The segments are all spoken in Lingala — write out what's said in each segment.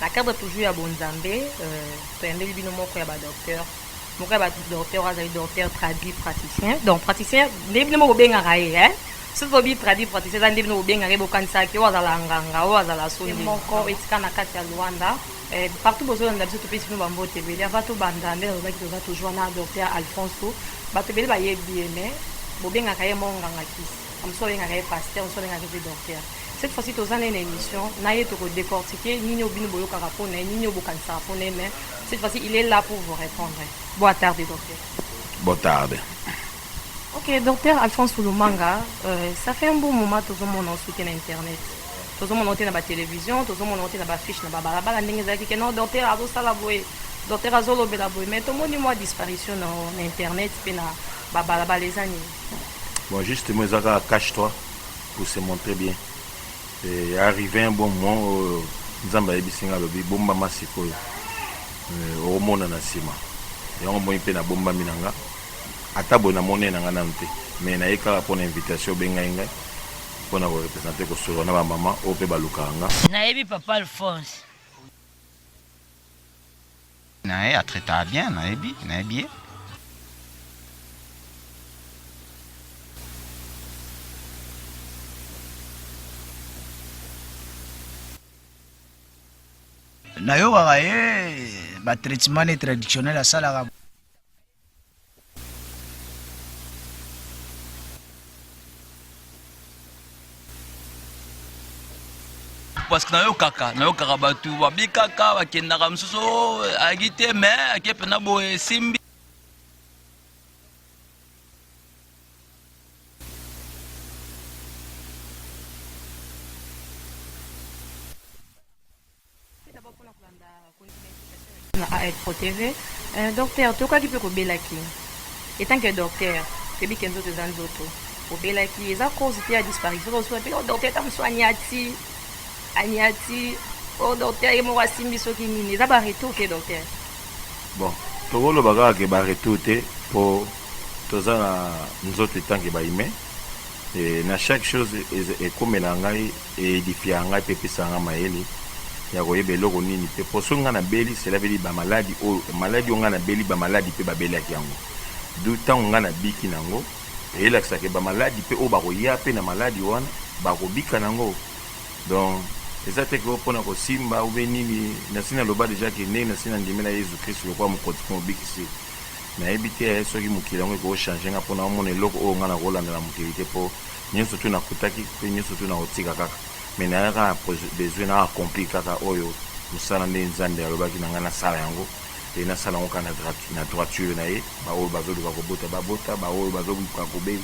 Na cadre toujours ya bonzambe, toyambeli bino moko ya ba docteur, moko ya ba docteur oyo azali docteur traduit praticien, donc praticien ndenge bino bobengaka ye hein, soki tolobi traduit praticien eza ndenge bino bobengaka ye bokanisaka ke oyo azala nganga, oyo azala soin ye moko esika na kati ya Luanda partout bozolanda biso topesi bino ba mbote ebele, avant tobanda nde nalobaki toza toujours wana na docteur Alfonso, batu ebele bayebi ye mais bobengaka ye moko nganga kisi, ba mosusu babengaka ye pasteur, ba mosusu babengaka ye pe docteur. Cette fois ci toza naye na emission naye toko decortiquer nini oyo bino boyokaka pona ye nini oyo bokanisaka pona ye mais cette fois ci il est là pour vous repondre boa tarde docteur. Boa tarde. Ok, docteur Alphonse Lumanga, euh, ça fait un bon moment que nous avons soutenu Internet. Nous avons monté dans la télévision, nous avons monté dans la fiche, dans la balabala, nous avons dit que non, docteur Azo Salaboué, docteur Azo Lobelaboué, mais tout le monde a disparition dans Internet, puis dans la balabala les années. Bon, justement, Zaka, cache-toi. Vous se montrez bien eh, arrive un bon moment oyo oh, nzambe ayebisi nga alobi bombama sikoyo eh, okomona na nsima yango moi mpe nabombami na nga ata boye namoni na nga nanu te mais naye kaka mpo na invitation obengai ngai mpo na korepresente kosolola na bamama oyo mpe balukaka nga nayebi papa alphonse naye a traita bien nayebi nayebi ye. Nayokaka ye ba traitement ne traditionnel asalaka. parce que nayokaka nayokaka bato babikaka bakendaka mosusu oh, ayaki te me ake mpena boye esimbi na AL Pro TV. Euh, docteur, tokaki mpe kobelaki etant que docteur toyebi ke nzoto eza nzoto obelaki eza cause te ya disparition ozosuka mpe o oh, docteur ta mosusu aniati aniati o oh, docteur ye moko asimbi soki nini eza baretour te docteur bon tokoloba kaka ke baretour te mpo toza na nzoto etanke baime na chaque chose ekomela ngai Eedifia ngai mpe epesaka ngai mayele ya koyeba eloko nini mpe mpo soki ngai nabeli selabeli ba maladi oyo maladi oyo ngai nabeli ba maladi mpe babelaki yango d'où ntango ngai nabiki na yango eelakisa ke ba maladi mpe oyo bakoya mpe na maladi wana bakobika na yango donc eza te ke oyo mpo na kosimba oube nini nasi naloba deja ke ndenge nasi nandimela Yezu Kristu lokola mokonzi mpe mobikisi nayebi te soki mokili yango ekochange ngai mpo naomona eloko oyo ngai nakolanda na mokili te mpo Nionso tout nakutaki pe nionso tout nakotika kaka mais naza kaka na besoin na accomplir kaka oyo musala nde nzambe alobaki na ngai nasala yango et nasala yango kaka na droiture na ye ba oyo bazo luka kobota ba bota ba oyo bazo luka kobe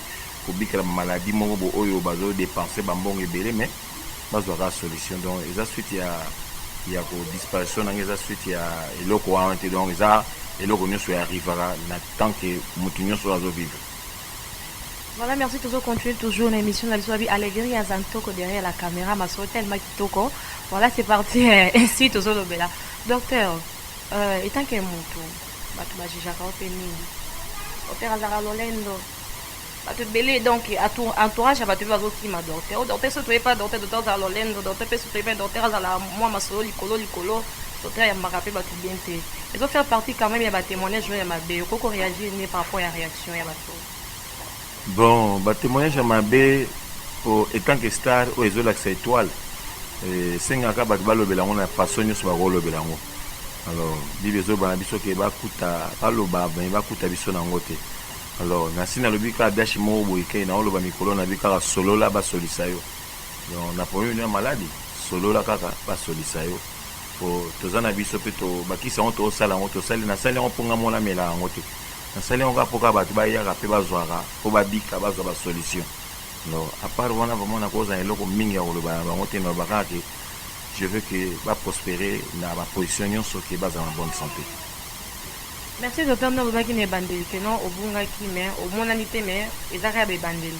kobikela ba maladie moko bo oyo bazo depenser ba mbongo ebele mais bazwa kaka solution donc eza suite ya ya ko disparition na ngai eza suite ya eloko wana te donc eza eloko nionso ya arrivaka na tant que mutu nionso azo vivre Voilà merci tozo continuer toujours na emission na biso babi alegria aza ntoko derrière la camera masolo tellement kitoko voilà c'est parti ainsi tozo lobela docteur euh, etant que mutu bato bajijaka yo mpe mingi docteur azalaka lolendo bato ebele donc entourage ya bato mpe bazokima docteur o docteur so toye mpe docteur docteur azala lolendo docteur mpe so toye mpe docteur azala mwa masolo likolo likolo docteur yambaka mpe bato bien te ezo faire partie quand même ya batémoignage oyo ya mabe okoki koreagir ne par rapport ya réaction Emission ya ba trop. Bon ba temoignage ya mabe po etant que star oyo ezo lakisa etoile esengaka batu balobela yango na façon nioso bako lobela yango alors bible ezo loba na biso ke bakuta baloba mais bakuta biso na yango te alors nasi nalobi kaka biashi moko boye ke nao loba mikolo na bi kaka solola basolisa yo donc na problème no ya maladi solola kaka basolisa yo po toza na biso pe to bakisi yango tosala yango tosali nasali yango po nga moko namela yango te Nasali yango kaka po kaka bato bayaka pe bazwaka po babika, bazwa ba solutions. Alors à part wana vraiment nakoza na eloko mingi ya koloba na bango te, naloba kaka que je veux que ba prosperer na ba positions nionso, que bazala na bonne sante. Merci docteur na lobaki na ebandeli que non obungaki mais omonani te mais eza kaka ba ebandeli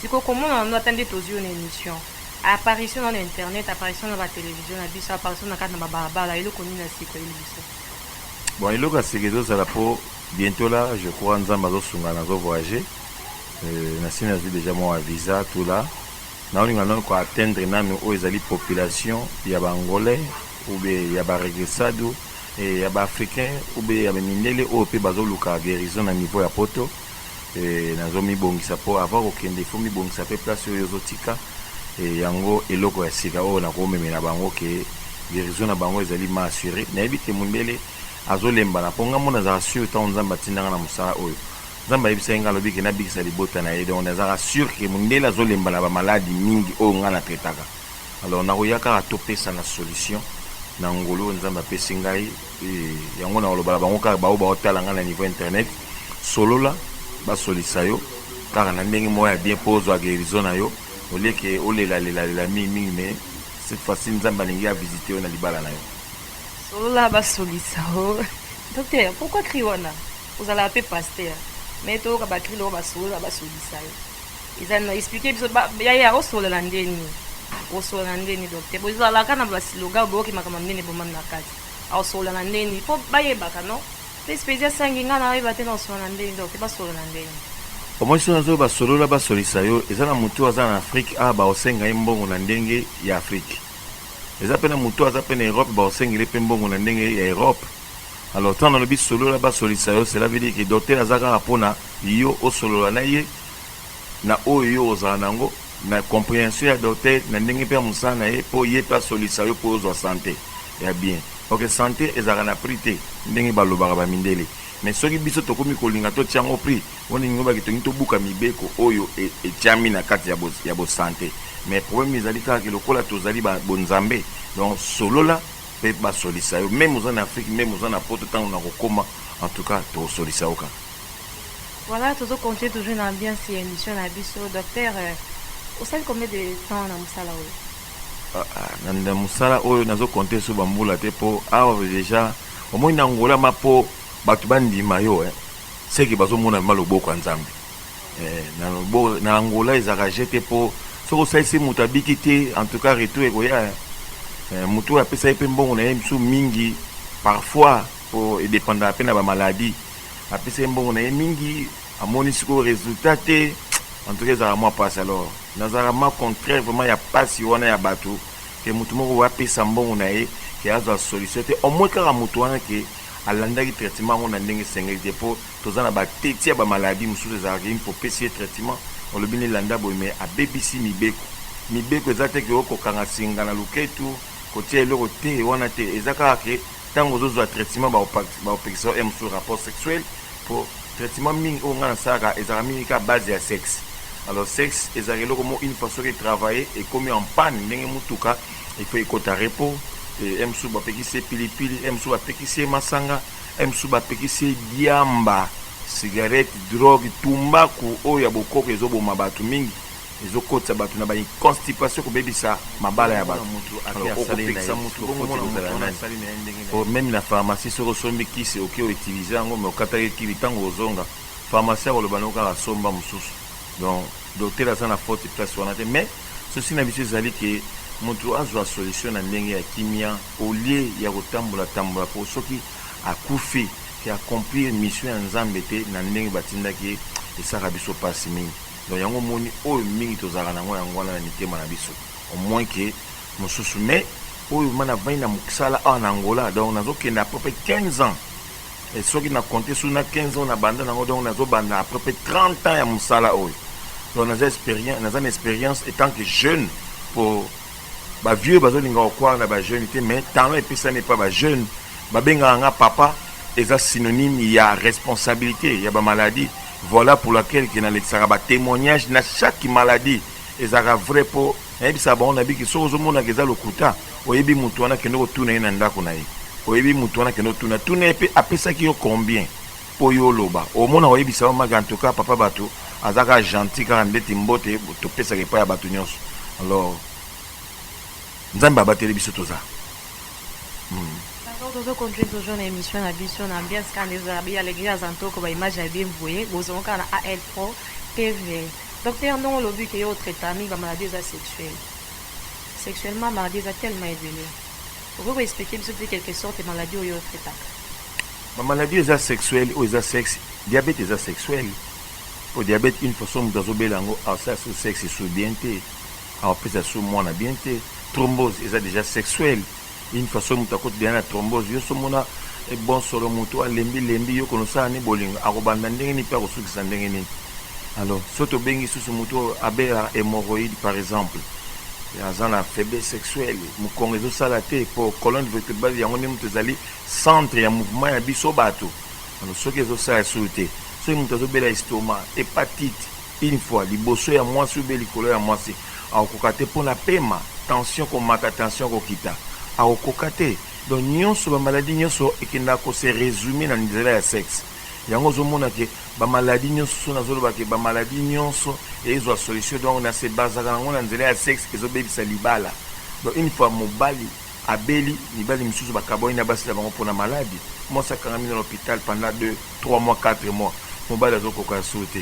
sikoyo komona na no ata nde tozwi yo na emission apparition na yo na internet apparition na ba television na biso apparition na kati na ba balabala eloko nini ya siko eyeli biso Bon eloko ya sika ezo zala po bientot la je crois nzambe azo sunga nazo voyager nasi nazui dejà mua visa tout la nao linga nanu ko atteindre nanu oyo ezali population ya ba angolais ou bien ya ba regresado ya ba africain ou bien ya ba mindele oyo pe bazo luka guerison na niveau ya poto nazo mibongisa po avant kokende il faut mibongisa pe place oyo ozo tika et yango eloko ya sika oyo nako memela bango que guerison na bango ezali ma assure nayebi que mundele azo lembana po nga moko nazalaka sur tango nzambe atinda nga na musala oyo nzambe ayebisaki nga alobi que nabikisa libota naye donc nazalaka sur que mundele azo lemba naba malade mingi oyo nga na traitaka alors nakoya kaka topesana solution na ngolu oyo nzambe apesi ngai Eeh yango nakoloba na bango kaka baoyo baotala ngai na niveau internet solola basolisa yo kaka na ndenge moko ya bien po ozua guerison na yo au lieu que olela lela lela mingi mingi mais cette fois ci nzambe alingi a visiter yo na libala na yo. Solola basolisa yo docteur pourquoi cri wana ozalaka pe pasteur mais toyoka ba cri lokola ba solola basolisa yo eza nini explique biso ba yaya osolola nde nini osolola nde nini docteur bozalaka na ba slogan boyoki makambo ya minene ebomami na kati. Ako solola na ndeni po ba yebaka no pe spezi a sangi nga na yeba te nao solola na ndeni donc ba solola na ndeni. Omoni soki nazo loba solola ba solisa yo eza na mutu oyo aza na Afrique awa bako senga ye mbongo na ndenge ya Afrique eza pe na mutu oyo aza pe na Europe bako sengela ye pe mbongo na ndenge ya Europe alors tango na lobi solola ba solisa yo cela veut dire que docteur aza kaka pona yo o solola na ye na oyo yo ozala na yango na comprehension ya docteur na ndenge pe ya musala na ye po ye pe asolisa yo po ozua sante ya bien ok sante ezalaka na prix te ndenge balobaka ba mindele mais soki biso tokomi kolinga to tia ngo prix wana elingi olobaki tolingi tobuka mibeko oyo etiami na kati ya bo sante mais probleme ezali kaka ke lokola tozali ba bonzambe donc solola pe basolisa yo meme oza na afrique meme oza na poto tango na kokoma en tout cas tokosolisa yo kaka. Voilà tozo continuer toujours na ambiance ya emission na biso docteur osali combien de temps na musala oyo ah, ah, na, na musala oyo nazo compter so bambula te po awa ah, deja omoni na ngola ma po bato bandima yo eh. seke bazomona ma loboko ya nzambe eh, na, lobo, na angola ezalaka je te po soki osalisi moto abiki te en tout cas retour ekoya eh. eh, moto oyo apesaki mpe mbongo na ye mosusu mingi parfois po edependaka mpe na bamaladi Apesaki mbongo na ye mingi amoni sikoyo resultat te en tout cas ezalaka mwa pasi alors nazalaka mwa contraire vraiment ya pasi wana ya batu ke mutu moko boye apesa mbongo na ye ke azwa solution te au moins kaka mutu wana ke alandaki traitement yango na ndenge esengeli te po toza na ba teti ya ba maladie mususu ezalaka ke une fois opesi ye traitement olobi ne landa boye mais abebisi mibeko mibeko eza te ke oko kanga singa na luketu kotia eloko te wana te eza kaka ke Tango ozo zwa traitement ba kopekisa yo MSU rapport sexuel po traitement mingi oyo nga nasalaka ezalaka mingi kaka base ya sexe. Alors sexe ezalaka eloko moko une fois soki e travailler ekomi en panne ndenge mutuka il faut ekota repos. MSU ba pekisi ye pili pili, MSU ba pekisi ye masanga, MSU ba pekisi ye diamba, cigarette, drogue, tumbaku oyo ya bokoko ezo boma batu mingi. ezo kotisa batu na ba constipation kobebisa mabala ya batu alors oko pekisa mutu bongo mona mutu wana asali na ye ndenge na ye meme na pharmacie soki osombi kisi oki o utiliser yango mais okataki kibi tango ozonga pharmacie akoloba na yo kaka somba mususu donc docteur aza na faute place wana te mais souci na biso ezali ke mutu azwa solution na ndenge ya kimia au lieu ya kotambola tambola po soki akufi ke accomplir mission ya Nzambe te na ndenge batindaki ye esaka biso pasi mingi Donc yango omoni oyo mingi tozalaka nango yango wana na mitema na biso au moins que mususu mais oyo ma navandi na mosala awa na Angola donc nazokende à peu près 15 ans et soki na compte sur na 15 ans na banda nango donc nazobanda à peu près 30 ans ya mosala oyo donc naza expérience naza na expérience étant que jeune pour ba vieux bazolinga kokwara na ba jeune te mais talent epesami epa ba jeune babengaka nga papa eza synonyme ya responsabilité ya ba maladie Voila pour laquelle que nalekisaka ba temoignages na chaque maladie ezalaka vrai po nayebisaka bango nabiki soki ozomona ke eza lokuta oyebi mutu wana kende kotuna ye na ndako na ye oyebi mutu wana kende otuna tuna ye pe apesaki yo combien po yo oloba omona oyebisa yo maki en tout cas papa batu aza kaka gentil kaka ndeti mbote topesaka epai ya batu nionso alors nzambe abateli biso toza Pardon tozo continue toujours na emission na biso na ambiance kaka nde ezo zala belle alegria zantoko ba images ya bien boye bozongo kaka na AL pro TV Docteur ndongo olobi ke yo o traitaka mingi ba maladies oyo eza sexuel sexuellement maladies eza tellement ebele okoki ko expliquer biso peut-etre quelques sortes ya maladies oyo yo o traitaka? Ba maladies oyo eza sexuel oyo eza sexe diabète eza sexuel po diabète une façon mutu azo bela yango asala sous sexe esuwi bien te Awa pesa so mwana bien te trombose eza deja sexuel une façon mutu akoti deja na trombose yo so mona bon solo mutu a lembi lembi yo kono sala ni bolingo ako banda ndenge nini pe ako sukisa ndenge nini alors so to bengi susu mutu oyo abela hemorroïde par exemple aza na faiblesse sexuelle mukongo ezo sala te po colonne vertebrale yango nde mutu ezali centre ya mouvement ya biso batu alors soki ezo sala sulu te soki mutu azo bela estoma hepatite Une fois liboso ya mwasi ou bien likolo ya mwasi akokoka te pona pema, tension komata, tension kokita akokoka te donc nionso ba maladie nionso ekendaka ko se resume na nzela ya sexe yango ozo mona ke ba maladie nionso soki nazo loba ke ba maladie nionso ezua solution donc na se basaka nango na nzela ya sexe ezo bebisa libala donc une fois mobali Abeli, mibali misusu bakabwani na basi na bango pona malade, mwasi akangami na l'hopital pendant deux, trois mois, quatre mois, mobali azo koka ya solo te,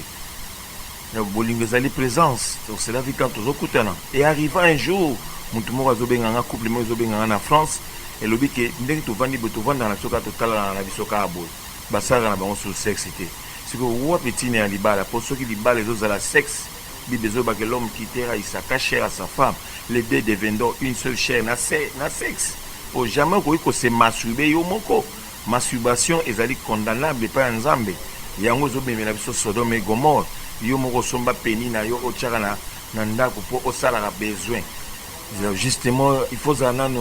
donc bolingo ezali presence, donc cela vie quand tozo kutana et arriva un jour mutu moko azo benga nga, couple moko ezo benga nga na France elobi ke ndenge tovandi boye tovandaka na biso kaka totalanaka na biso kaka boye, basalaka na bango sur sexe te, sikoyo wapi tina ya libala po soki libala ezo zala sexe. Bible ezoba que l'homme quittera Isaka chair à sa femme les deux devendront une seule chair na se na sexe po jamais okoki ko se masturber yo moko masturbation ezali condamnable epai ya Nzambe yango ezo memela biso Sodome et Gomorrhe yo moko osomba penny na yo otiaka na na ndaku po osalaka besoin Justement il faut ozala nanu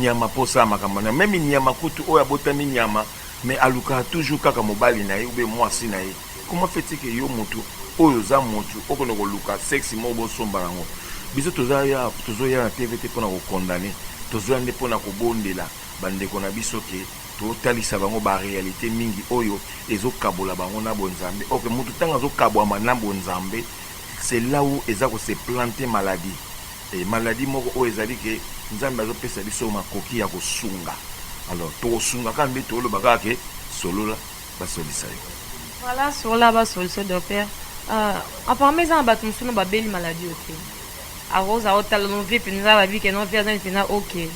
nyama po osala makambo wana meme nyama kutu oyo abotami nyama mais alukaka toujours kaka mobali na ye oubien muasi na ye. Comment fait il que yo mutu oyo oza mutu okende koluka sexe moko bosomba yango? Biso toza ya tozo ya na TV te pona ko condamne tozo ya nde pona kobondela ba ndeko na biso que totalisa bango ba realite mingi oyo ezo kabola bango na bo nzambe ok mutu tango azo kabwama na bo nzambe c'est là ou eza ko se plante maladie et maladie moko oyo ezali que nzambe azo pesa biso makoki ya kosunga alors toko sunga kaka nde toloba kaka que solola basolisa yo. Voilà sur la ba solution docteur euh apparemment eza na batu mususu no ba beli maladie oyo te ako za ko tala no vie penza ba bi ke no vie aza ni penza ok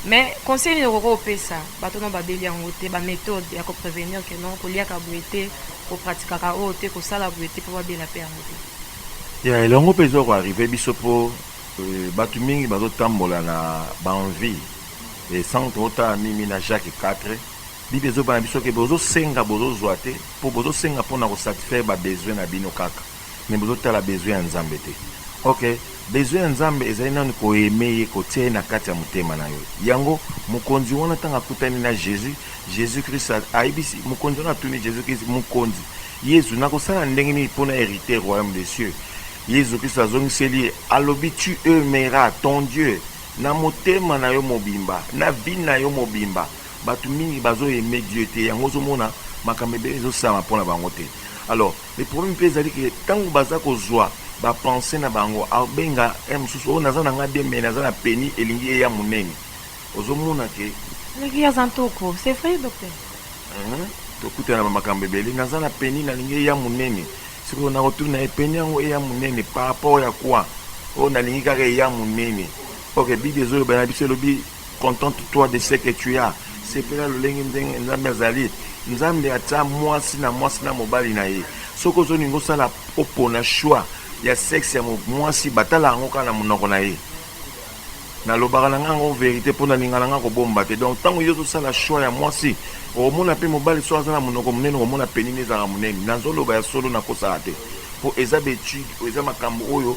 mais conseil nini okoki opesa batu no ba beli yango te ba methode ya ko prevenir ke no ko liaka boye te ko pratikaka oyo te ko sala boye te po ba bela pe yango te ya elongo pe ezo ko arriver biso po euh, batu mingi bazo tambola na ba envie et sans totala mimi na Jacques 4 Bible ezo yeba na biso ke bozo senga bozo zua te po bozo senga pona ko satisfaire ba besoin na bino kaka mais bozo tala besoin ya nzambe te ok besoin ya nzambe ezali nanu ko aime ye ko tia ye na kati ya motema na yo yango mokonzi wana tango akutani na jesus jesus christ ayebisi mokonzi wana atuni jesus christ mokonzi yezu nako sala ndenge nini pona heriter royaume de cieux yezu christ azongiseli ye alobi tu aimeras ton dieu na motema na yo mobimba na vie na yo mobimba Batu mingi bazo aime Dieu te yango ozo mona makambo ebele ezo salama pona bango te alors le problème pe ezali ke tangu baza kozua ba pensees na bango abenga heure mususu oh naza na nga bien mais naza na peni elingi eya munene ozo mona ke Eleki aza ntoko c'est vrai docteur. Hum tokutana na ba makambo ebele naza na peni nalingi eya munene sikoyo nako tuna ye peni yango eya munene par rapport ya quoi oh nalingi kaka eya munene ok bible ezo loba na biso elobi Contente toi de ce que tu as sepela lolenge ndenge nzambe azali nzambe atia mwasi na mwasi na mobali na ye soki ozolinga osala opona choix ya sexe ya mwasi batala yango kaka na monoko na ye nalobaka na nga yango verite mpo nalinga na nga kobomba te donc ntango yo ozosala choix ya mwasi okomona mpe mobali so aza na monoko monene okomona penini ezalaka monene nazoloba ya solo nakosaka te mpo eza betude eza makambo oyo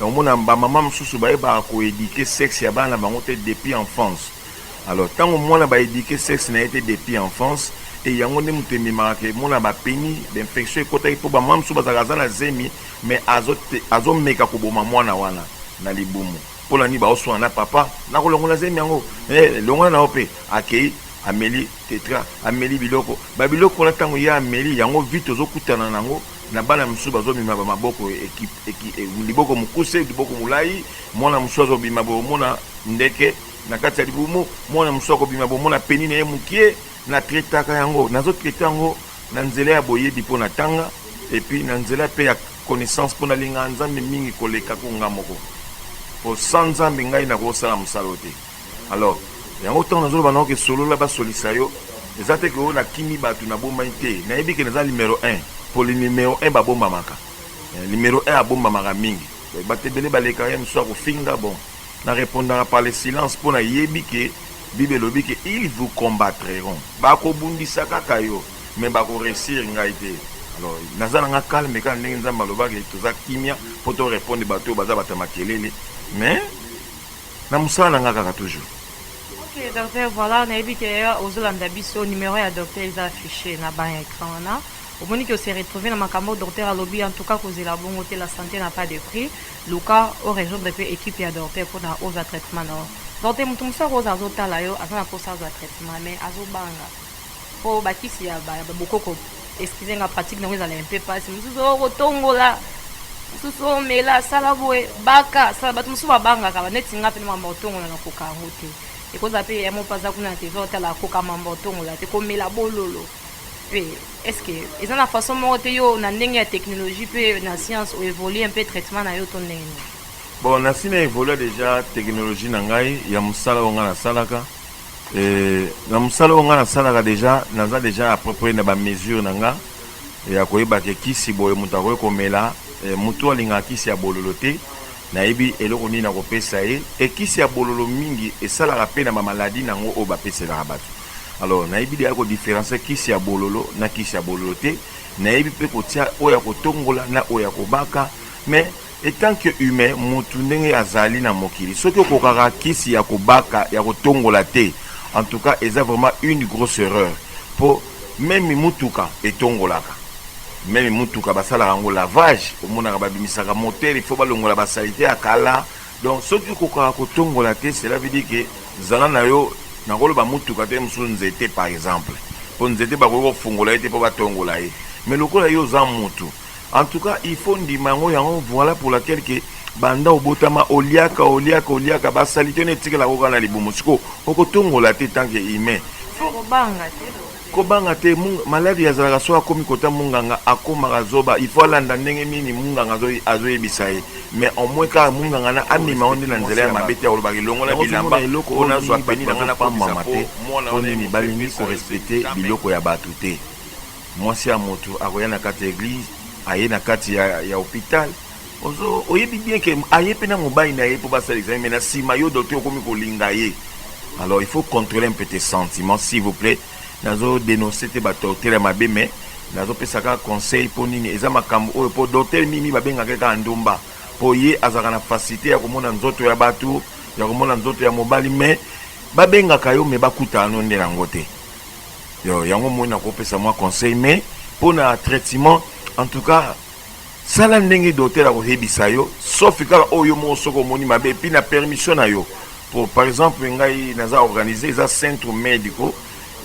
Omona ba maman mususu bayebaka ko eduquer sexe ya bana na bango te depuis enfance alors tango mwana ba eduquer sexe na ye te depuis enfance et yango nde mutu ememaka ke mwana ba peni d'infection ekotaki po ba maman mususu bazalaka aza na zemi mais azo azo meka koboma mwana wana na libumu pona nini bazo swana na papa nako longola zemi yango eh longola na yo pe akeyi ameli tetra ameli biloko ba biloko wana tango ye ameli yango vite ozo kutana na ngo Na bana misusu bazo mema ba maboko ekipe liboko mukuse liboko mulayi mwana mususu azo bima bo mona ndeke na kati ya libumu mwana mususu ako bima bo mona peni na ye mukie na traitaka yango nazo traite yango na nzela ya boyebi po na tanga et puis na nzela pe ya connaissance po na lingaka nzambe mingi koleka ko nga moko po sans nzambe ngai nako sala musala oyo te. Alors yango tango nazo loba na yo ke solola ba solisa yo eza te ke oh na kimi batu na bombani te na yebi ke naza numero un po le numero un ba bombamaka numero un abombamaka mingi batu ebele ba leka ye mususu ako finga bon na repondaka par le silence po na yebi ke bible elobi ke il vous combattreront ba ko bundisa kaka yo mais ba ko reussir ngai te alors naza na nga calme kaka ndenge nzambe aloba ke toza kimia po to repondre batu oyo baza batu ya makelele mais Na musala na nga kaka toujours. Ok docteur voila nayebi ke ozolanda biso numero ya docteur eza affiche na ba ecran wana omoni ke ose retrouver na makambo oyo docteur alobi en tout cas kozela bongo te la sante na pas de prix luka o rejoindre pe equipe ya docteur pona ozwa traitement na yo docteur mutu mususu akoza azotala yo aza na posa azwa traitement mais azobanga Po ba kisi ya ba bokoko excusez nga pratique nango ezala un peu pasi mususu oh kotongola mususu oh mela sala boye baka sala batu mususu ba bangaka ba neti nga pe na makambo ya kotongola na koka yango te ekozala pe yaya moko pe aza kuna na territoire otala akoka makambo ya kotongola te komela bololo pe est ce que eza na façon moko te yo na ndenge ya technologie pe na science o evoluer un peu traitement na yo to ndenge nini? Bon nasi na evolua dejà technologie na ngai ya musala oyo nga nasalaka. Eh, na musala oyo nga nasalaka deja naza deja approprier na ba mesure na nga ya koyeba ke kisi boye moto akoki komela eh, moto alingaka kisi ya bololo te nayebi eloko nini nakopesa ye e kisi ya bololo mingi esalaka mpe na bamaladi na yango oyo bapeselaka bato alors nayebi deya kodifferencie kisi ya bololo na kisi ya bololo te nayebi mpe kotia oyo ya kotongola na oyo ya kobaka mais Etant que humain mutu ndenge azali na mokili soki okokaka kisi ya kobaka ya kotongola te en tout cas eza vraiment une grosse erreur po meme mutuka etongolaka meme mutuka basalaka yango lavage omonaka babimisaka moteur il faut balongola ba salite ya kala donc soki okokaka kotongola te cela veut dire que zala na yo nakoloba mutuka te mosusu nzete par exemple po nzete bakoki kofungola ye te po batongola ye mais lokola yo oza mutu En tout cas il faut ndima yango yango voilà pour laquelle que banda obotama oliaka oliaka oliaka ba salite ne tikela ko kana libumu siko okotongola te tant que humain kobanga te kobanga te maladi yazalaka soki akomi kota munganga akomaka zoba il faut alanda ndenge nini munganga azoyebisa ye mais au moins kaka munganga na amema yango nde na nzela ya mabe te akolobaka elongola bilamba mpo nazwa peni na ngai napambama te mpo nini balingi korespecte biloko ya bato te Mwasi ya mutu akoya na kati ya eglise aye na kati ya ya hopital ozo oyebi bien ke aye pe na mobali na ye po basala examen mais na sima yo docteur okomi kolinga ye alors il faut controler un peu tes sentiments s'il vous plait nazo denoncer te ba torture ya mabe mais nazo pesa kaka conseil po nini eza makambo oyo po docteur mimi babengaka ye kaka ndumba po ye azalaka na facilite ya komona nzoto ya batu ya komona nzoto ya mobali mais babengaka yo mais bakutana no nde na yango te Yo yango omoni nakopesa mwa conseil mais mpo na traitement en tout cas sala ndenge docteur akoyebisa yo sauf kaka oyo oh, moko soki omoni mabe epuis na permission na yo po par exemple ngai naza organise eza centre medico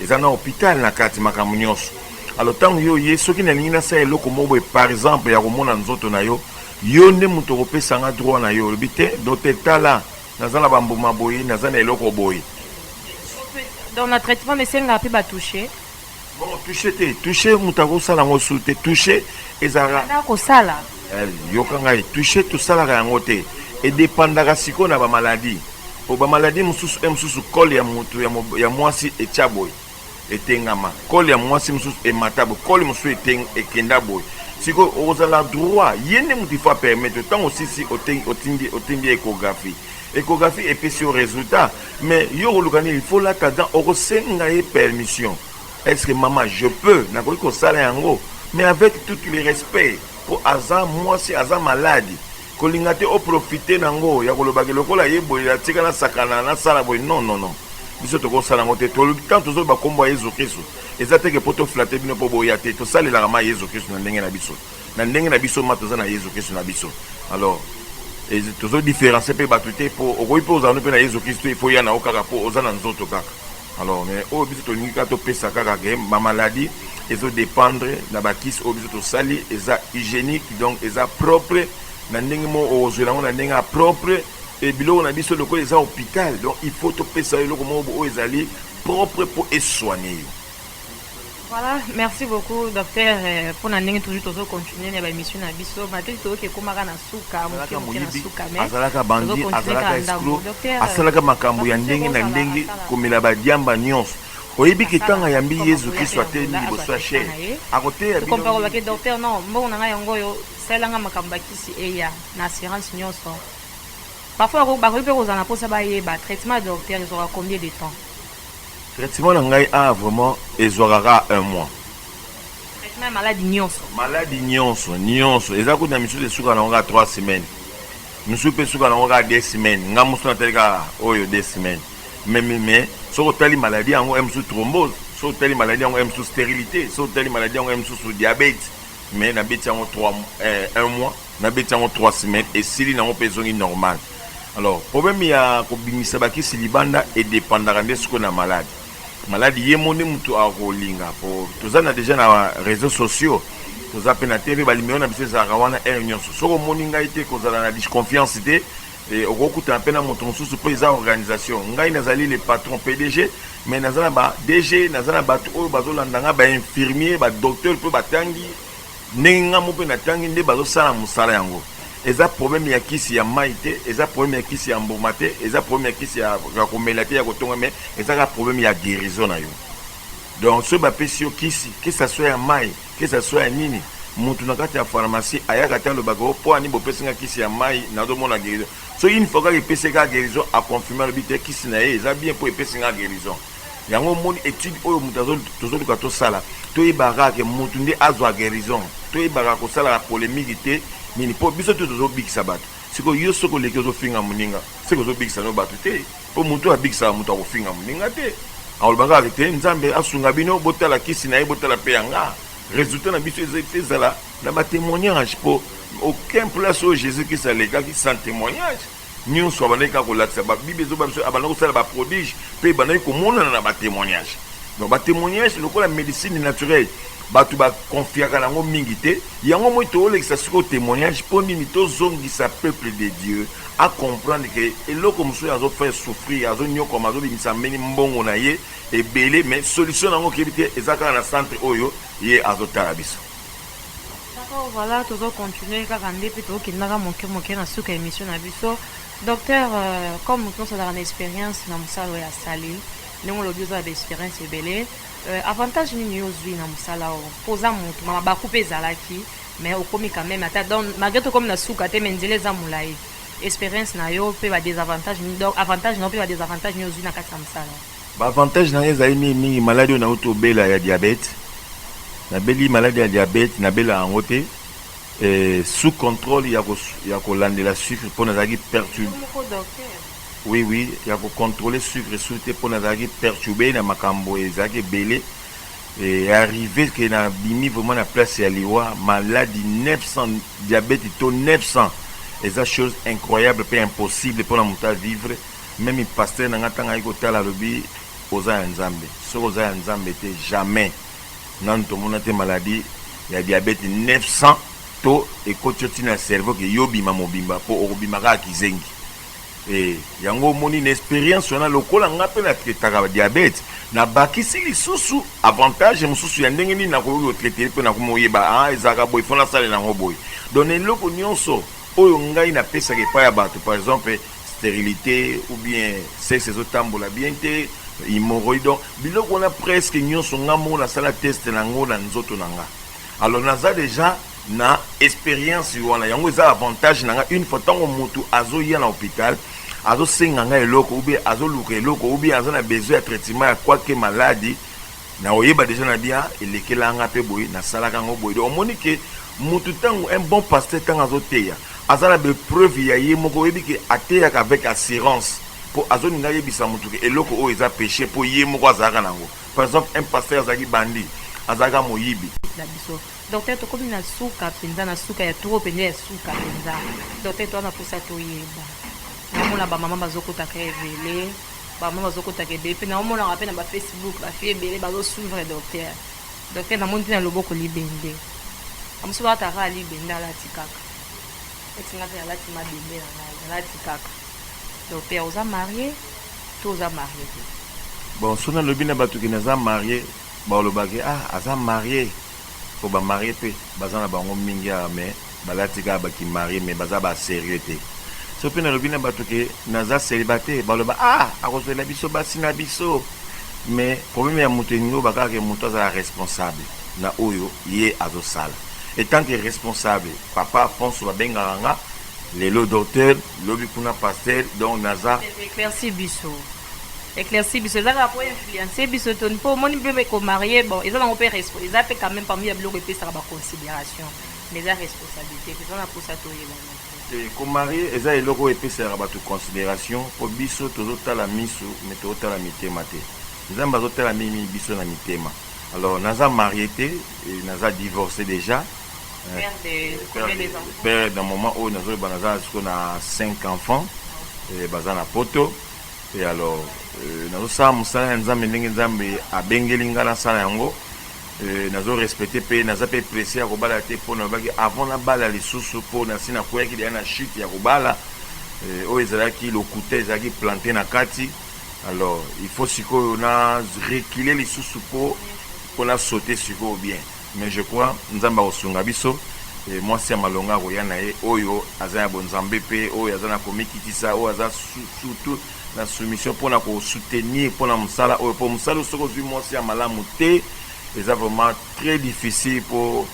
eza na hôpital na kati makambo nyonso alo ntango yo oye soki nalingi nasala eloko moko boye par exemple ya komona nzoto na yo yo nde moto okopesa nga droit na yo olobi te docteur tala Naza na ba mbuma boye, naza na eloko boye. Donc na traitement esengaka pe ba touche? Bon, touche te, touche moto akosala yango su te, touche ezalaka. Nda kosala. Eh, yoka ngai, touche tosalaka yango te. Edepandaka sikoyo na ba maladie. Po ba maladie mosusu e mosusu kole ya moto ya mwasi etya boye. etengama kole ya mwasi mosusu emata boye kole mosusu ekenda boye sikoyo okozala droit ye nde moto ifo apermettre ntango osisi otindi otindi ecographie ecographie epesi yo resultat mais yo okoluka nini ifo lata gan okosenga ye permission est ce que mama je peux nakoki kosala yango mais avec tout le respect mpo aza mwasi aza maladi Kolinga te o profiter nango ya koloba ke lokola ye boye ya tika nasakana nasala boye non non non biso toko sala yango te tolobi tant tozo loba kombo ya yezu christu eza te ke po to flatter bino po boya te tosalelaka ma yezu christu na ndenge na biso na ndenge na biso ma toza na yezu christu na biso alors et tozo differencie pe batu te po okoki pe ozala no pe na yezu christu il faut ya na yo kaka po oza na nzoto kaka Alors mais oyo biso tolingi kaka topesa kaka ke ba maladie ezo dependre na ba kisi oyo biso tosali eza hygienique donc eza propre na ndenge moko okozwela yango na ndenge ya propre e biloko na biso lokola eza hopital donc il faut topesa yo eloko moko oyo ezali propre mpo eswane yo Voilà, merci beaucoup docteur euh, pona ndenge toujours tozo continuer na ba émission na biso malgré toyoki ekomaka na suka moke moke na suka mais azalaka bandi azalaka escro asalaka euh, makambo ya ndenge na ndenge komela badiamba nyonso oyebi ke ntango ayambi yezu kristo atelemi liboso ya shere akoteya binokompakobake docteur non mbongo na ngai yango oyo salelanga makambo bakisi eya na assurance nyonso parfois bakoki mpe kozala na mposa bayeba traitement ya docteur ezwaka combien de temps Traitement na ngai awa vraiment ezuaka kaka un mois. Traitement ya maladi nionso? Maladi nionso, nionso. Eza kutu na misusu esuka na yango kaka trois semaines. Misusu pe esuka na yango kaka deux semaines. Nga mususu natali kaka oyo deux semaines. Mais, mais, mais, soki otali maladi yango oyebi mususu thrombose, soki otali maladi yango oyebi mususu sterilite, soki otali maladi yango oyebi mususu diabete. Mais nabeti yango trois, eh, un mois. Na beti yango trois semaines esili nango pe ezongi normal alors problème ya ko bimisa ba kisi libanda e dependaka nde sikoyo na malade malade ye moko nde mutu ako linga po toza na dejà na reseaux sociaux toza pe na TV ba numero na biso ezalaka wana heure nionso soki omoni ngai te kozala na disconfiance te et okoki kutana pe na moto mosusu po eza organisation ngai nazali le patron PDG mais naza na ba DG naza na batu oyo bazo landa ngai ba infirmier ba docteur pe ba tangi Ndenge nga moko pe na tangi nde bazo sala musala yango eza problème ya kisi ya mayi te eza problème ya kisi ya mbuma te eza problème ya kisi ya komela te ya kotonga mais eza kaka problème ya guerison na yo donc soki ba pesi yo kisi que ça soit ya mayi que ça soit ya nini mutu na kati ya pharmacie ayaka te alobaka oh po ani bopesi nga kisi ya mayi nazo mona guerison soki une fois kaka epesi ye kaka guerison a confirme alobi te kisi na ye eza bien po epesi nga guerison Yango omoni etude oyo moto tozoluka tosala toyebaka ke moto nde azwa guerison toyebaka kosalaka polemique te nini mpo biso te tozobikisa bato siko yo soki oleki ozofinga moninga seke ozobikisa no bato te mpo moto oyo abikisaka moto akofinga moninga te akolobaka kaka te nzambe asunga bino botala kisi na ye botala mpe yanga resultat na biso ezala na batemoignage mpo aucun place oyo jesus christ alekaki sans temoignage Nionso abandaki kaka kolakisa ba bible ezoba biso abanda kosala ba prodige pe ebandaki komonana na ba temoignage donc ba temoignage lokola medicine naturelle batu ba confiaka nango mingi te yango omoni toolekisa sikoyo temoignage po nini tozongisa peuple de Dieu a comprendre ke eloko mosusu azo faire souffrir azo niokwama azo bimisa mbeni mbongo na ye ebele mais solution nango okebi te eza kaka na centre oyo ye azo tala biso D'accord voilà tozo continuer kaka nde pe to kendaka moke moke na suka ya emission na biso docteur comme mutu nionso azalaka na experience na musala oyo asali ndenge olobi oza na ba experience ebele avantage nini yo ozui na musala oyo po oza mutu ma mabaku pe ezalaki mais okomi quand meme ata donc malgre tokomi na suka te mais nzela eza mulayi experience na yo pe ba desavantage nini donc avantage na yo pe ba desavantage nini ozui na kati ya musala. Ba avantage na ngai ezali mingi mingi maladi oyo nawuti kobela ya diabete, nabeli maladi ya diabete nabela yango te eh, sous controle ya ko ya kolandela sucre po nazalaki perturbe, oui oui ya ko controler sucre sous te po nazalaki perturbe na makambo ezalaki ebele eh, arrive que na bimi vraiment na place ya liwa maladi 900 diabete taux 900 eza chose incroyable pe impossible pona mutu a vivre. Meme pasteur na nga tango aye kotala alobi oza ya nzambe soki oza ya nzambe te jamais nanu tomona te maladie ya diabete 900 to ekoti yo ti na cerveau ke yo bima mobimba po okobima kaka kizengi e yango omoni na experience wana lokola nga pe na traitaka diabete na bakisi lisusu avantage mosusu ya ndenge nini nakoki kotraite pe nakomi oyeba a ah, ezalaka boye fona asalela yango boye donc eloko nyonso oyo ngai napesaka epai ya bato par exemple sterilite ou bien sexe ezo tambola bien te, hemorroïde donc biloko wana presque nionso nga moko na sala teste na ngo na nzoto na nga alors naza dejà na experience wana yango eza avantage na nga une fois tango mutu azo ya na hopital azo senga nga eloko ou bien azo luka eloko ou bien aza na besoin ya traitement ya quoi que malade Na oyeba dejà na bia elekela nga pe boye na salaka yango boye donc omoni que mutu tangu un bon pasteur tangu azo teya aza na be preuve ya ye moko oyebi que ateyaka avec assurance po azo linga ayebisa mutu que eloko oyo eza peche po ye moko azalaka na ngo par exemple un pasteur azalaki bandi azalaka moyibi na biso docteur tokomi na suka penza na suka ya trop penza ya suka penza docteur toza na posa toyeba na mona ba maman bazo kota ka ebele ba mama bazo kotaka ebele pe nao monaka pe na ba Facebook ba filles ebele bazo suivre docteur docteur na moni te na loboko libende na mosusu balata kaka libende alati kaka eti nga pe nalati mabende na ngai nalati kaka docteur oza marie to oza marie te bon so nalobi na bato ke naza marie baolobake ah aza marie po ba marie pe baza na bango mingi awa mais Balati kaka ba kimarie mais baza ba serieux te. Soki pe nalobi na batu ke naza celibataire baloba ah akozuela biso basi na biso mais probleme ya mutu elingi oloba kaka ke mutu azala responsable na oyo ye azosala etant ke responsable papa Afonso babengaka nga lelo docteur lobi kuna pasteur donc naza Eclairci biso eclairci biso eza kaka po influence biso to po omoni pe ko marier bon eza nango pe eza pe quand meme parmi ya biloko epesaka ba consideration Mais eza responsabilite toza na posa toyebana te. Te ko marier eza eloko oyo epesaka batu consideration po biso tozo tala misu mais tozo tala mitema te nzambe azo tala mingi mingi biso na mitema alors naza marier te et naza divorce dejà Père de combien des enfants? père na moment oyo nazo loba naza siko na 5 enfants eh, baza na poto et alors euh, nazo sala musala ya nzambe ndenge nzambe abengeli nga na sala yango Euh, nazo respecter pe naza pe presse ya kobala te mpo nalobaki avant nabala lisusu mpo nasi nakweyaki deya na chute ya kobala euh, oyo ezalaki lokuta ezalaki plante na kati alors il faut sikoyo na recule lisusu mpo mpo na saute sikoyo bien mais je crois nzambe akosunga biso euh, mwasi ya malonga akoya na ye oyo aza ya bonzambe mpe oyo aza na komikitisa oyo aza surtout na soumission pona ko soutenir pona musala oyo po musala oyo soki ozui mwasi ya malamu te eza vraiment tres difficile po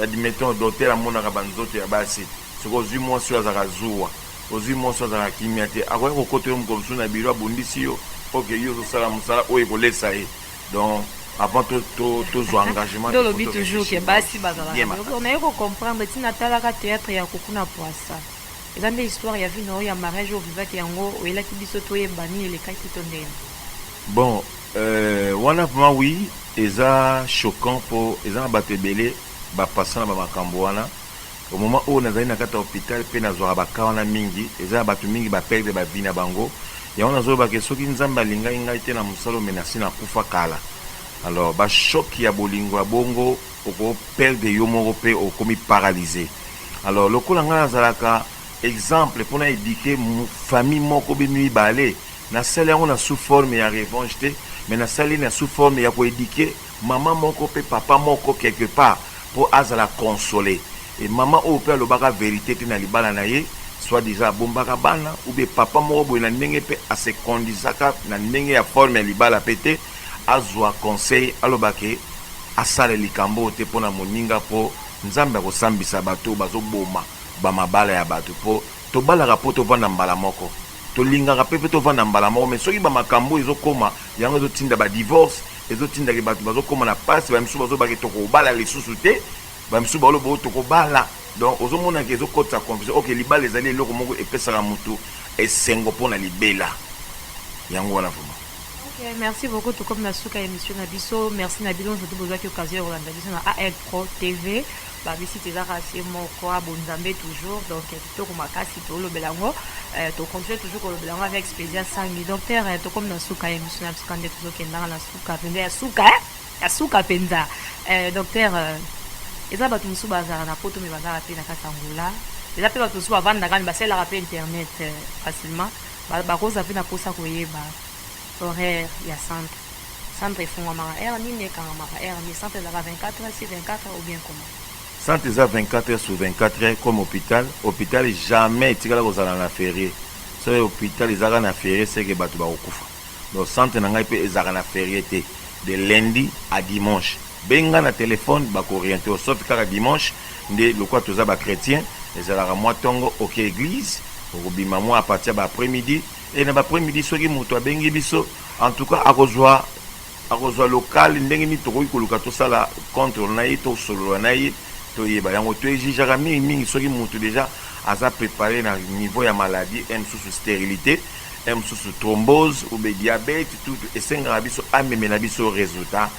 admettons docteur amonaka ba nzoto ya basi soki ozui mwasi oyo azalaka zuwa ozui mwasi oyo azalaka kimia te akoya kokota yo mokolo mosusu na bureau abundisi yo po ke yo ozosala musala oyo ekolesa ye donc avant to to tozua engagement nde olobi toujours ke basi bazalaka naye ko comprendre ti natalaka theatre ya kuku na puasa Eza nde histoire ya vie na yo ya mariage oyo ovivaki yango oyelaki biso toyeba nini elekaki to ndeni. Bon euh, wana vraiment oui eza choquant po eza na bato ebele ba passa na ba makambo wana au moment oyo nazali na kati ya hopital pe nazwaka ba cas wana mingi eza na bato mingi ba perdre ba vie na bango yango nazoloba ke soki nzambe alingaki ngai te na mosala oyo me nasi nakufa kala alors ba choc ya bolingo ya bongo oko perdre yo moko pe okomi paralyse alors lokola ngai nazalaka exemple pona eduquer famille moko bino mibale nasali yango na sous forme ya revanche te mais nasali na sous forme ya ko eduquer maman moko pe papa moko quelque part po azala console et maman oyo pe alobaka verite te na libala na ye soit disant abombaka bana ou bien papa moko boye na ndenge pe a se conduisaka na ndenge ya forme ya libala pe te azua conseil aloba ke asala likambo oyo te pona moninga po nzambe akosambisa batu oyo bazo boma ba mabala ya batu po tobalaka po tovanda mbala moko tolingaka pe pe tovanda mbala moko mais soki ba makambo oyo ezo koma yango ezo tinda ba divorce ezo tinda ke batu bazo koma na pasi ba misusu bazo loba ke tokobala lisusu te ba misusu bazo loba toko bala donc ozo mona ke ezo kotisa confusion ok libala ezali eloko moko epesaka mutu esengo pona libela yango wana vraiment. Ok merci beaucoup tokomi na suka ya emission na biso merci na bino nzoto bozwaki occasion ya kolanda biso na AL Pro TV ba bisite ezaka se moko abo nzambe toujours donc kitoko makasi tolobela yango eh, to continue toujours kolobela yango avec Spezia Sangi docteur eh, tokomi na suka ya emission na biso kande tozokendanga na suka mpenza ya suka eh? ya suka mpenza eh, docteur eh, eza bato mosusu bazalaka na poto me bazalaka mpe na kati ya ngola eza mpe bato mosusu bavandaka me basalelaka mpe internet eh, facilement Ba bakoza pe na posa koyeba horaire ya centre. Centre efungwamaka heure nini, ekangamaka heure nini? Centre ezalaka 24 heures sur 24 heures ou bien comment? Centre eza 24 heures sur 24 heures comme hopital. Hopital jamais etikala kozala na ferie. Soki hopital ezalaka na ferie ce que batu bakokufa. Donc centre na ngai pe ezalaka na ferie te de lundi à dimanche benga na telephone bako oriente yo sauf kaka dimanche nde lokola toza ba chretiens ezalaka mua tongo oke eglise okobima mua à partir ya ba après midi et na ba après midi soki mutu abengi biso en tout cas akozua akozua local ndenge nini tokoki koluka tosala contre na ye to solola na ye toyeba yango to exigeaka mingi mingi soki mutu dejà aza prepare na niveau ya maladie et mosusu sterilite He mususu thrombose ou be diabete tutu esengaka biso amemela biso resultat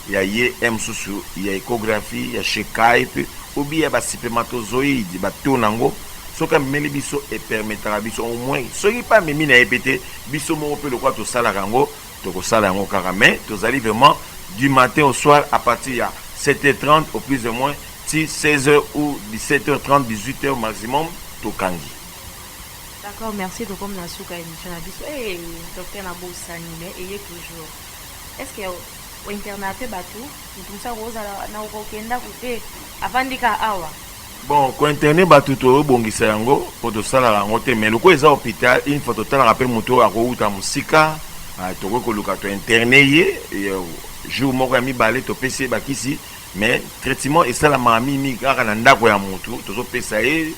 ya ye he mususu ya echographie ya chez Kuyp ou bien ya ba spermatozoide ba taux na ngo soki amemeli biso e permetaka biso au moins soki pe amemi na ye pe te biso moko pe lokola tosalaka yango toko sala yango kaka mais tozali vraiment du matin au soir à partir ya 7 heures 30 au plus de moins ti 16 heures ou 17 heures 30 18 heures maximum tokangi. D'accord merci tokomi na suka emission na biso eh docteur na bosani mais eye toujours est ce que o interna pe batu mutu mosusu akozala na okokenda kute avandi ka awa bon kointerne bato tobongisa yango mpo tosalaka yango te mais lokola eza hôpital une fois totalaka mpe moto oyo akowuta mosika ah, tokoki koluka tointerne ye jour moko ya mibale topesi ye bakisi mais traitement esalamaka mingimingi kaka na ndako ya motu tozopesa ye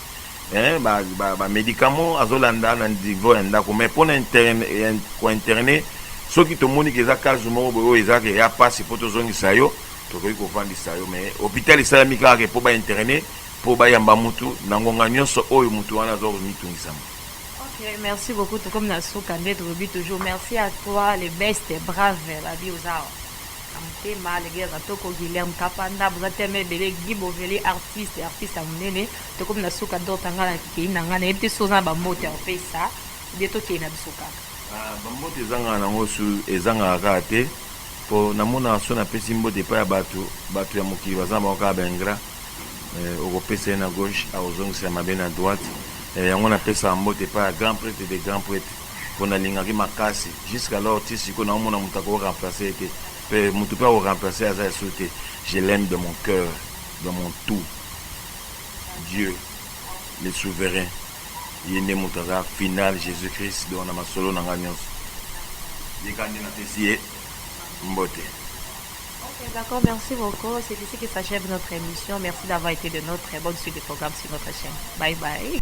Eeh ba ba ba medicaments azo landa na niveau ya ndaku mais pona interne ko interner soki tomoni ke eza cas moko boye oyo eza ke eya pasi po tozongisa yo tokoki kovandisa yo mais hopital esalami kaka ke po ba interner po bayamba mutu na ngonga nionso oyo mutu wana azo mitungisama. Ok merci beaucoup tokomi na suka nde tolobi toujours merci à toi le best brave babi oza awa na motema le gars ya toko guilherme kapanda boza tellement ebele Guy bovele artiste artiste ya munene. Tokomi na suka docta nga na keyi na nga nayebi te soki oza na ba mbote ya kopesa ou bien tokei na biso kaka. Ah ba mbote ezangaka nango su ezangaka kaka te po namonaka soki napesi mbote epai ya batu batu ya mokili baza na bango kaka ba ingrats eh, okopesa ye na gauche akozongisela mabe na droite eh, yango napesaka mbote epai ya grand prete de grand prete po nalingaki makasi jusqu'alors ti sikoyo naomona moto ako remplacer ye te pe moto pe ako remplacer aza lisusu te je l'aime de mon cœur de mon tout Dieu le souverain ye nde mutu aza final Jesus Christ donc na masolo na nga nionso ye kaka nde na pesi ye mbote. Ok d'accord merci beaucoup c'est ici que s'achève notre emission merci d'avoir ete de notre bonne suite de programme sur notre chaine bye bye.